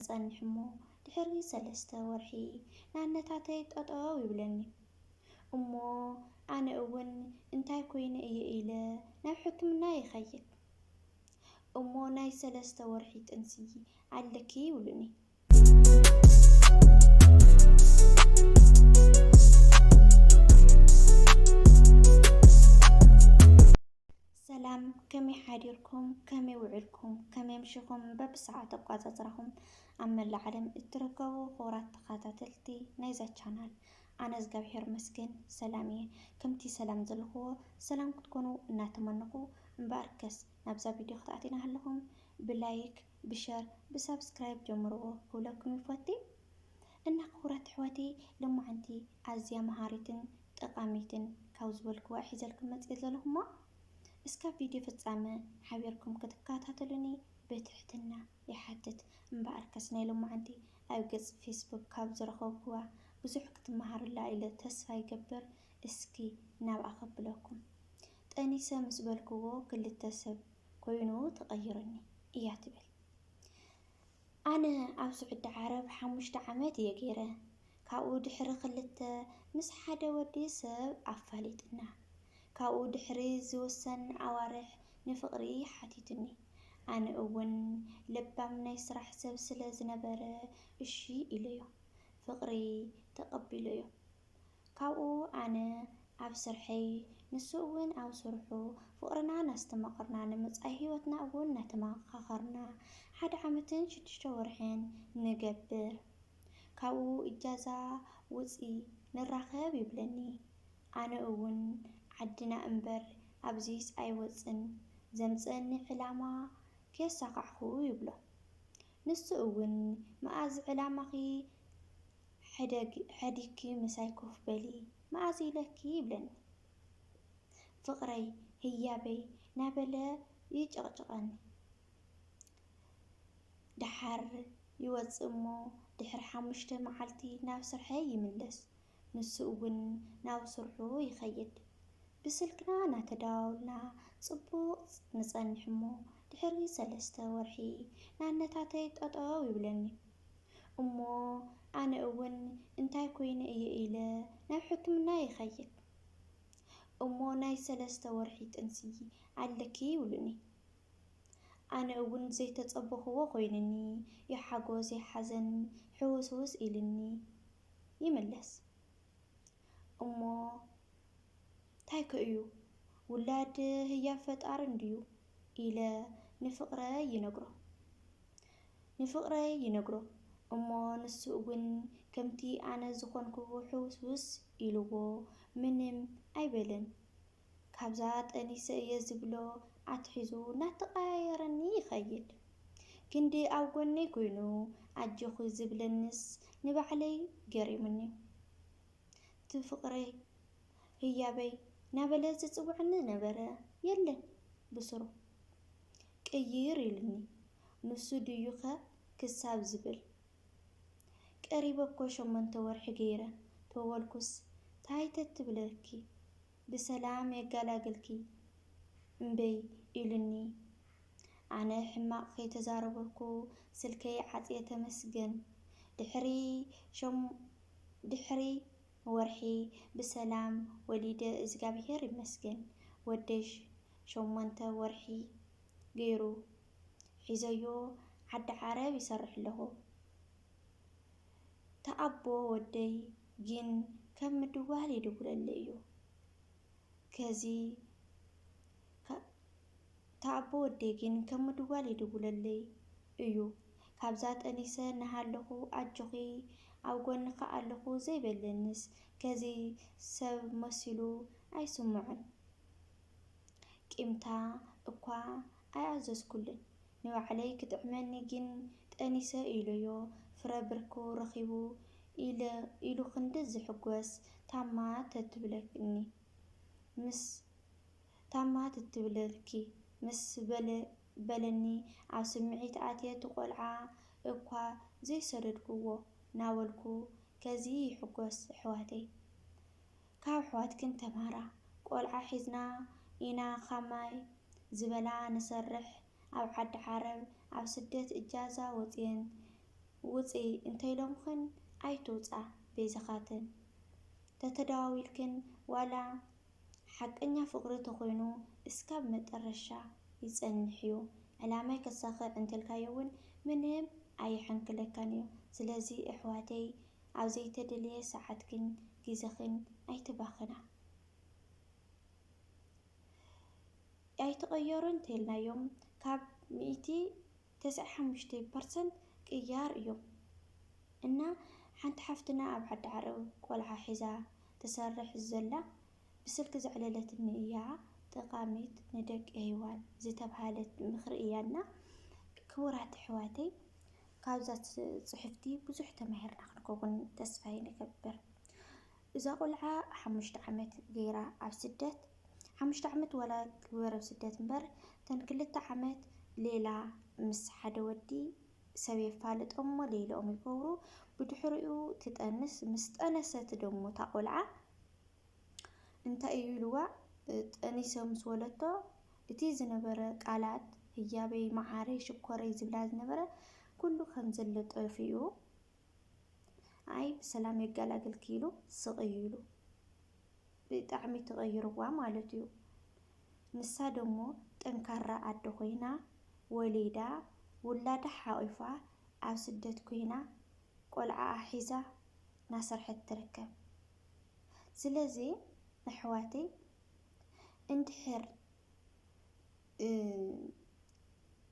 እጸንሕ'ሞ ድሕሪ ሰለስተ ወርሒ ናነታተይ ጠጠው ይብለኒ እሞ ኣነ እውን እንታይ ኮይነ እየ ኢለ ናብ ሕክምና ይኸይድ እሞ ናይ ሰለስተ ወርሒ ጥንሲ ኣለኪ ይብሉኒ። ሰላም ከመይ ሓዲርኩም ከመይ ውዕልኩም ከመይ ኣምሽኹም በብሰዓት ኣቋጻጽራኹም ኣብ መላእ ዓለም እትርከቡ ክቡራት ተኻታተልቲ ናይዛ ቻናል ኣነ እዝጋብሄር መስገን ሰላም እየ ከምቲ ሰላም ዘለኹዎ ሰላም ክትኮኑ እናተመነኹ እምበኣርከስ ናብዛ ቪድዮ ክትኣቲና ሃለኹም ብላይክ ብሸር ብሳብስክራይብ ጀምርዎ ክብለኩም ይፈቲ እና ክቡራት ኣሕዋተይ ሎማዓንቲ ኣዝያ መሃሪትን ጠቃሚትን ካብ ዝበልክዋ ሒዘልኩም መፅየ ዘለኩ እሞ እስካብ ቪድዮ ፍፃመ ሓቢርኩም ክትካታተሉኒ ብትሕትና ይሓትት እምበኣርከስ ናይ ሎማዓንቲ ኣብ ገፅ ፌስቡክ ካብ ዝረከብክዋ ብዙሕ ክትማሃሩላ ኢለ ተስፋ ይገብር እስኪ ናብኣ ከብለኩም ጠኒሰ ምስ በልክዎ ክልተ ሰብ ኮይኑ ተቀይሩኒ እያ ትብል ኣነ ኣብ ስዑዲ ዓረብ ሓሙሽተ ዓመት እየ ገይረ ካብኡ ድሕሪ ክልተ ምስ ሓደ ወዲ ሰብ ኣፋሊጥና ካብኡ ድሕሪ ዝውሰን ኣዋርሕ ንፍቅሪ ሓቲቱኒ ኣነ እውን ለባም ናይ ስራሕ ሰብ ስለ ዝነበረ እሺ ኢለዮ ፍቅሪ ተቀቢለዮ ካብኡ ኣነ ኣብ ስርሐይ ንሱ እውን ኣብ ስርሑ ፍቕርና ናስተማቐርና ንመጻኢ ሕይወትና እውን ናተማኻኸርና ሓደ ዓመትን ሽዱሽተ ወርሕን ንገብር ካብኡ እጃዛ ውጺ ንራኸብ ይብለኒ ኣነ እውን ዓድና እምበር ኣብዚስ ኣይወጽን ዘምጽእኒ ዕላማ ከየሳኻዕኹ ይብሎ ንሱ እውን መኣዝ ዕላማኺ ሕደግ ሐዲግኪ ምሳይ ኮፍ በሊ መኣዝ ኢለኪ ይብለኒ ፍቅረይ ህያበይ ናበለ ይጨቅጭቀኒ ደሓር ይወፅእ እሞ ድሕሪ ሓሙሽተ መዓልቲ ናብ ስርሐይ ይምለስ ንሱ እውን ናብ ስርሑ ይከይድ ብስልክና ናተደዋወልና ፅቡቅ ንፀንሕ እሞ ድሕሪ ሰለስተ ወርሒ ናነታተይ ጠጠው ይብለኒ እሞ ኣነ እውን እንታይ ኮይነ እየ ኢለ ናብ ሕክምና ይኸይድ። እሞ ናይ ሰለስተ ወርሒ ጥንሲ ኣለኪ ይብሉኒ። ኣነ እውን ዘይተፀበኹዎ ኮይኑኒ ይሓጎስ ይሓዘን ሕውስውስ ኢሉኒ ይምለስ። እሞ ታይ ከ እዩ ውላድ ህያብ ፈጣሪ እንድዩ። ኢለ ንፍቕረይ ይነግሮ ንፍቕረይ ይነግሮ እሞ ንሱ እውን ከምቲ ኣነ ዝኾንኩ ሕውስውስ ኢልዎ ምንም ኣይበለን ካብዛ ጠኒሰ እየ ዝብሎ ኣትሒዙ እናተቐያየረኒ ይኸይድ ክንዲ ኣብ ጎነይ ኮይኑ ኣጆኺ ዝብለንስ ንባዕለይ ገሪሙኒ ትፍቕረይ ህያበይ ናበለ ዝጽውዕኒ ነበረ የለን ብስሩ ቅይር ኢሉኒ ንሱ ድዩ'ከ ክሳብ ዝብል ቀሪበ'ኮ ሸሞንተ ወርሒ ገይረ ተወልኩስ ታይ ተትብለኪ ብሰላም የጋላግልኪ እምበይ ኢሉኒ ኣነ ሕማቅ ከይተዛረበኩ ስልከይ ዓጽየ ተመስገን ድሕሪ ድሕሪ ወርሒ ብሰላም ወሊደ እዝጋብሄር ይመስገን ወደይ ሸሞንተ ወርሒ ገይሩ ሒዘዮ ዓዲ ዓረብ ይሰርሕ ኣለኩ ተኣቦ ወደይ ግን ከም ምድዋል ይድውለለይ እዩ ከዚ እታ ኣቦ ወደይ ግን ከም ምድዋል ይድውለለይ እዩ ካብዛ ጠኒሰ ናሃለኩ ኣጆኪ ኣብ ጎንኪ ኣለኩ ዘይ በለንስ ከዚ ሰብ መሲሉ ኣይስሞዕን ቂምታ እኳ ኣይኣዘዝኩሉን ንባዕለይ ክጥዕመኒ ግን ጠኒሰ ኢሎዮ ፍረ ብርኩ ረኪቡ ኢለ ኢሉ ክንዲ ዝሕጎስ ታማ ተትብለኒ ምስ ታማ ትትብለልኪ ምስ በለ በለኒ ኣብ ስምዒት ኣትየ እቲ ቆልዓ እኳ ዘይሰደድኩዎ ናበልኩ ከዚ ይሕጎስ ኣሕዋተይ ካብ ኣሕዋትክን ተማሃራ ቆልዓ ሒዝና ኢና ኻማይ ዝበላ ንሰርሕ ኣብ ዓዲ ዓረብ ኣብ ስደት እጃዛ ወፅየን ውፂ እንተይሎምኽን ኣይትውፃ በይዝኻትን ተተደዋዊልክን ዋላ ሓቀኛ ፍቅሪ ተኮይኑ እስካብ መጠረሻ ይፀንሕ እዩ ዕላማይ ከሳክዕ እንተልካዮ እውን ምንም ኣይሕንክለካን እዩ ስለዚ እሕዋተይ ኣብ ዘይተደለየ ሳዓትክን ግዘክን ኣይተባክና ኣይትቀየሩ እንተኢልናዮም ካብ ሚእቲ ተስዐ ሓሙሽተ ፐርሰንት ቅያር እዮም እና ሓንቲ ሓፍትና ኣብ ዓዲ ዓረብ ቆልዓ ሒዛ ትሰርሕ ዘላ ብስልኪ ዘዕለለትኒ እያ ጠቃሚት ንደቂ ሄዋን ዝተብሃለት ምክሪ እያ እና ክቡራት ኣሕዋተይ ካብዛ ፅሕፍቲ ብዙሕ ተማሂርና ክንከውን ተስፋ ይገብር እዛ ቆልዓ ሓሙሽተ ዓመት ገይራ ኣብ ስደት ሓሙሽተ ዓመት ዋላ ግበር ኣብ ስደት እምበር ተን ክልተ ዓመት ሌላ ምስ ሓደ ወዲ ሰብ የፋልጦሞ ለይለኦም ይገብሩ ብድሕሪኡ ትጠንስ ምስ ጠነሰት ደሞ እታ ቆልዓ እንታይ እዩ ኢልዋ ጠኒሰ ምስ ወለቶ እቲ ዝነበረ ቃላት ህያበይ መዓረይ ሽኮረይ ዝብላ ዝነበረ ኩሉ ከም ዘሎ ጠፊኡ ኣይ ብሰላም የጋላግልኪ ኢሉ ስቅ እዩ ኢሉ። ብጣዕሚ ትቀይርዋ ማለት እዩ ንሳ ደሞ ጠንካራ ኣደ ኮይና ወሊዳ ውላዳ ሓቂፋ ኣብ ስደት ኮይና ቆልዓኣ ሒዛ ናሰርሐት ትርከብ ስለዚ ኣሕዋተይ እንድሕር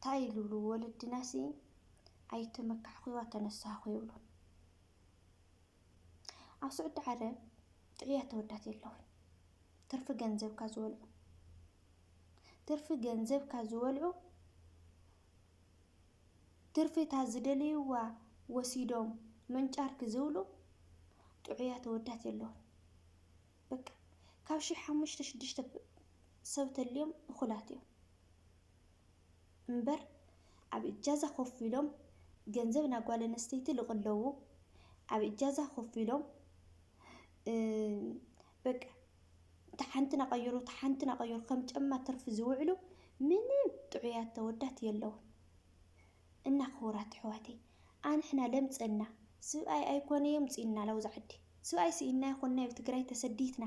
ታይ ይልብሉ ወለድናሲ ኣይተመካዕኩዋ ተነሳኩ ይብሉ። ኣብ ስዑዲ ዓረብ ጥዕያ ተወዳት የለውን ትርፊ ገንዘብካ ዝወልዑ ትርፊ ገንዘብካ ዝወልዑ ትርፊ እታ ዝደልይዋ ወሲዶም መንጫርኪ ዝብሉ ጥዑያ ተወዳት የለውን በቃ ካብ ሽሕ ሓሙሽተ ሽዱሽተ ሰብ ተልዮም እኹላት እዮም እምበር ኣብ እጃዛ ኮፍ ኢሎም ገንዘብ ናብ ጓል ኣንስተይቲ ልቕለዉ ኣብ እጃዛ ኮፍ ኢሎም በቃ ተሓንቲ ናቐይሩ ተሓንቲ ናቐይሩ ከም ጨማ ትርፊ ዝውዕሉ ምንም ጥዑያት ተወዳት የለውን። እና ክቡራት ኣሕዋተይ ኣንሕና ለምፀና ስብኣይ ኣይኮነ የምፅኡና ላውዚ ዓዲ ስብኣይ ስኢንና ይኮን ናይብ ትግራይ ተሰዲትና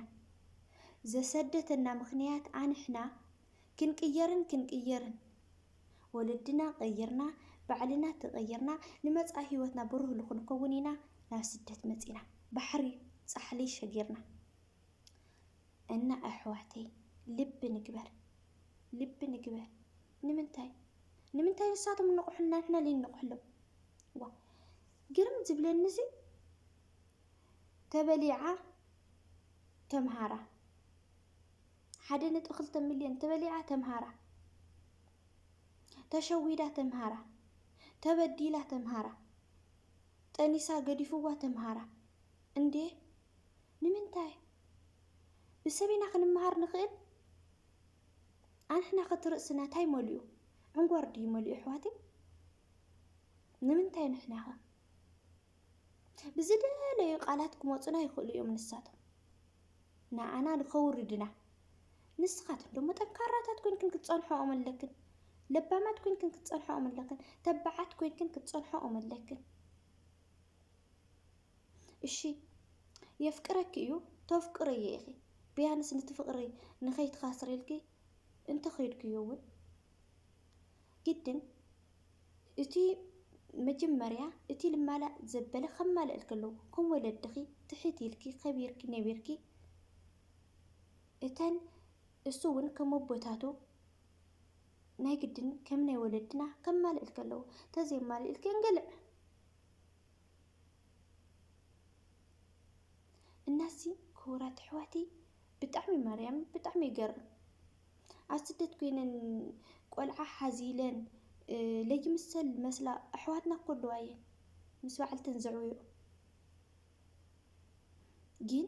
ዘሰደተና ምክንያት ኣንሕና ክንቅየርን ክንቅየርን ወለድና ቀይርና ባዕልና ተቀይርና ንመፃኢ ሂወትና ብሩህ ልክንከውን ኢና ናብ ስደት መፂና ባሕሪ ፃሕሊ ሸጊርና እና ኣሕዋተይ ልቢ ንግበር ልቢ ንግበር። ንምንታይ ንምንታይ ንሳቶም እንቑሑልና ንሕና ልይንቑሕሎም ዋ ግርም ዝብለኒ ሲ ተበሊዓ ተምሃራ ሓደ ነጥቢ ክልተ ሚልዮን ተበሊዓ ተምሃራ ተሸዊዳ ተምሃራ ተበዲላ ተምሃራ ጠኒሳ ገዲፍዋ ተምሃራ እንዴ ንምንታይ ብሰብ ኢና ክንመሃር ንኽእል ኣንሕና ከ እቲ ርእስና ታይ መሊኡ ዕንጎር ድዩ መሊኡ ኣሕዋተይ ንምንታይ ንሕና ከ ብዝደለዩ ቃላት ክመፁና ይኽእሉ እዮም ንሳቶም ንኣና ንኸውርድና ንስኻትኩም ደሞ ጠንካራታት ኮይንክን ክትፀንሖኦም ኣለክን ለባማት ኮይንክን ክትፀንሖኦም ኣለክን ተባዓት ኮይንክን ክትፀንሖኦም ኣለክን እሺ የፍቅረኪ እዩ ተፍቅርዮ ኢኺ ብያንስ ንቲ ፍቅሪ ንኸይትኻስርልኪ እንተኸይድክዮ እውን ግድን እቲ መጀመርያ እቲ ልማላእ ዘበለ ከማልእልኪ ኣለዎ ከም ወለድኺ ትሕት ኢልኪ ከቢርኪ ነቢርኪ እተን እሱ እውን ከም ኣቦታቱ ናይ ግድን ከም ናይ ወለድና ከማልእልኪ ኣለዎ ተዘይማልእልኪ እንግልዕ እናሲ ክቡራት ኣሕዋተይ ብጣዕሚ ማርያም ብጣዕሚ ይገርም ኣብ ስደት ኮይነን ቆልዓ ሓዚለን ለይምሰል መስላ ኣሕዋትና እኮ ኣለዋ እየን ምስ በዓልተን ዘዕብዮ ግን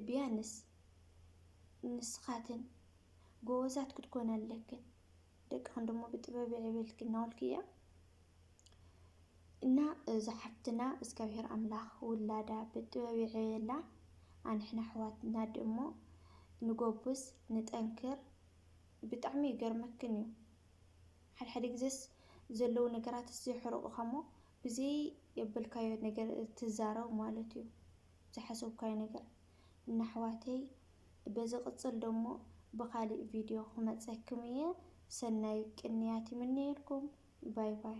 ቢያንስ ንስኻትን ጎበዛት ክትኮና ኣለክን ደቂ ኣንዶሞ ብጥበብ የዕብየልኪ እናበልኩ እየ እና እዛ ሓፍትና እግዚኣብሔር ኣምላኽ ውላዳ ብጥበብ የዕብየላ ኣንሕና ኣሕዋትና ደሞ ንጎብዝ ንጠንክር ብጣዕሚ ይገርመክን እዩ ሓድሓደ ግዜስ ዘለዉ ነገራትስ የሕርቑኻሞ ብዘይ የበልካዮ ነገር ትዛረብ ማለት እዩ ዝሓሰብካዮ ነገር ንኣሕዋተይ በዝቅፅል ደሞ ብካሊእ ቪድዮ ክመፀክም እየ ሰናይ ቅንያት ይምነየልኩም ባይ ባይ።